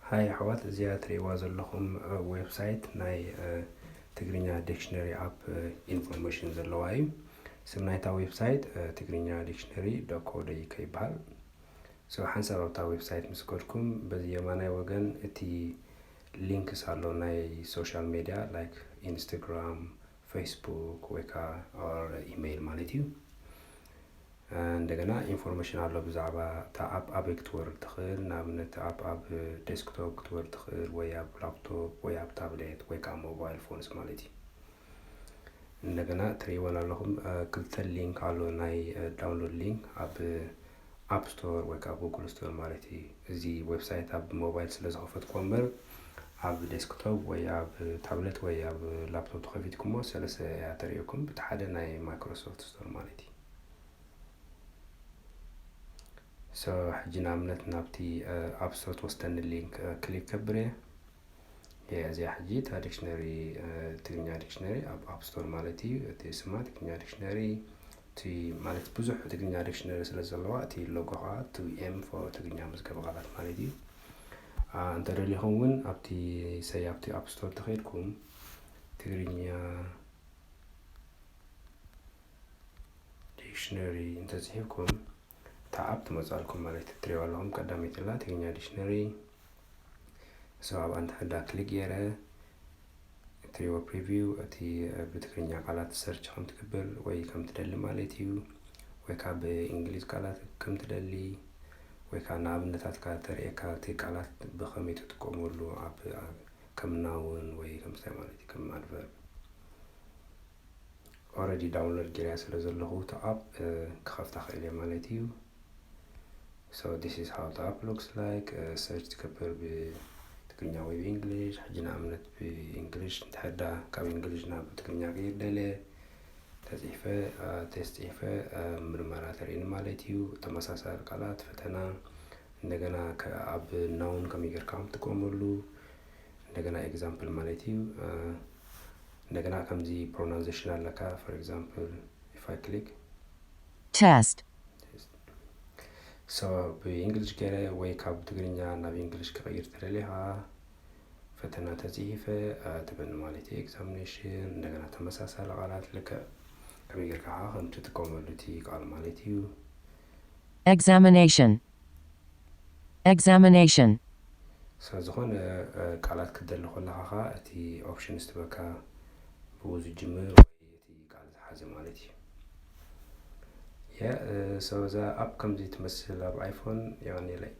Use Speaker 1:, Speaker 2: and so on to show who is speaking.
Speaker 1: ሃይ ኣሕዋት እዚኣ ትርእይዋ ዘለኹም ዌብሳይት ናይ ትግርኛ ዲክሽነሪ ኣፕ ኢንፎርሜሽን ዘለዋ እዩ ስም ናይታ ዌብሳይት ትግርኛ ዲክሽነሪ ዶኮ ደይከ ይበሃል ሰው ሓንሳብ ኣብታ ዌብሳይት ምስ ከድኩም በዚ የማናይ ወገን እቲ ሊንክስ ኣሎ ናይ ሶሻል ሜድያ ላይክ ኢንስታግራም ፌስቡክ ወይ ከዓ ኦር ኢመይል ማለት እዩ እንደገና ኢንፎርሜሽን ኣሎ ብዛዕባ እታ ኣፕ ኣበይ ክትወርድ ትኽእል ንኣብነት እታ ኣፕ ኣብ ዴስክቶፕ ክትወርድ ትኽእል ወይ ኣብ ላፕቶፕ ወይ ኣብ ታብሌት ወይ ከዓ ሞባይል ፎንስ ማለት እዩ እንደገና ትርእይወን ኣለኹም ክልተ ሊንክ ኣሎ ናይ ዳውንሎድ ሊንክ ኣብ ኣፕ ስቶር ወይ ከዓ ጉግል ስቶር ማለት እዩ። እዚ ዌብሳይት ኣብ ሞባይል ስለ ዝኸፈትኩዎ እምበር ኣብ ዴስክቶፕ ወይ ኣብ ታብለት ወይ ኣብ ላፕቶፕ ተኸፊትኩሞ ሰለስተ እያ ተርእየኩም ብቲ ሓደ ናይ ማይክሮሶፍት ስቶር ማለት እዩ። ሶ ሕጂ ንኣብነት ናብቲ ኣፕ ስቶር ትወስደኒ ሊንክ ክሊክ ከብር እየ። እዚኣ ሕጂ እታ ዲክሽነሪ ትግርኛ ዲክሽነሪ ኣብ ኣፕ ስቶር ማለት እዩ እቲ ስማ ትግርኛ ዲክሽነሪ እቲ ማለት ብዙሕ ትግርኛ ዲክሽነሪ ስለ ዘለዋ እቲ ሎጎ ከዓ እቲ ኤም ፎር ትግርኛ መዝገበ ቃላት ማለት እዩ እንተደሊኹም እውን ኣብቲ ሰይ ኣብቲ ኣፕ ስቶር ተኸይድኩም ትግርኛ ዲክሽነሪ እንተፅሒፍኩም እታ ኣፕ ትመፅኣልኩም ማለት እትሪእዋ ኣለኹም ቀዳመይቲ ላ ትግርኛ ዲክሽነሪ እሱ ኣብኣ እንተሕዳ ክሊክ ገይረ እትሪእዎ ፕሪቪው እቲ ብትግርኛ ቃላት ሰርች ከም ትግብል ወይ ከም ትደሊ ማለት እዩ ወይ ከዓ ብእንግሊዝ ቃላት ከም ትደሊ ወይ ከዓ ንኣብነታት ከዓ ተርእየካ እቲ ቃላት ብኸመይ ትጥቀመሉ ኣብ ከም ናውን ወይ ከምስታይ ማለት እዩ ከም ኣድቨርብ ኦረዲ ዳውንሎድ ጌርያ ስለ ዘለኹ እታ ኣፕ ክኸፍታ ክእል እየ ማለት እዩ ሶ ዲስ ኢዝ ሃው ኣፕ ሉክስ ላይክ ሰርች ትገብር ብትግርኛ ወይ ብእንግሊሽ ሕጂ ንኣብነት ብእንግሊሽ እንተሕዳ ካብ እንግሊሽ ናብ ትግርኛ ቀይር ደለ ተፅሒፈ ቴስት ፅሒፈ ምርመራ ተርእኒ ማለት እዩ ተመሳሳሊ ቃላት ፈተና እንደገና ኣብ ናውን ከመይ ጌርካ ትጥቀመሉ እንደገና ኤግዛምፕል ማለት እዩ እንደገና ከምዚ ፕሮናንዜሽን ኣለካ ፎር ኤግዛምፕል ኢፍ ኣይ ክሊክ Test. ሶ ብእንግሊሽ ገይረ ወይ ካብ ትግርኛ ናብ እንግሊሽ ክቕይር ተደሊኻ ፈተና ተፅሂፈ ትበኒ ማለት እዩ ኤግዛሚኔሽን እንደገና ተመሳሳሊ ቃላት ልክዕ ከመይ ጌርካ ከዓ ከም ትጥቀመሉ እቲ ቃል ማለት እዩ Examination.
Speaker 2: Examination። ስለ
Speaker 1: ዝኾነ ቃላት ክትደሊ ኮለኻ ከኣ እቲ Options ትበካ ብኡ ዝጅምር ወይ እቲ ቃል ዝሓዘ ማለት እዩ። Yeah so እዛ App ከምዚ ትመስል ኣብ iPhone የቀንየለይ።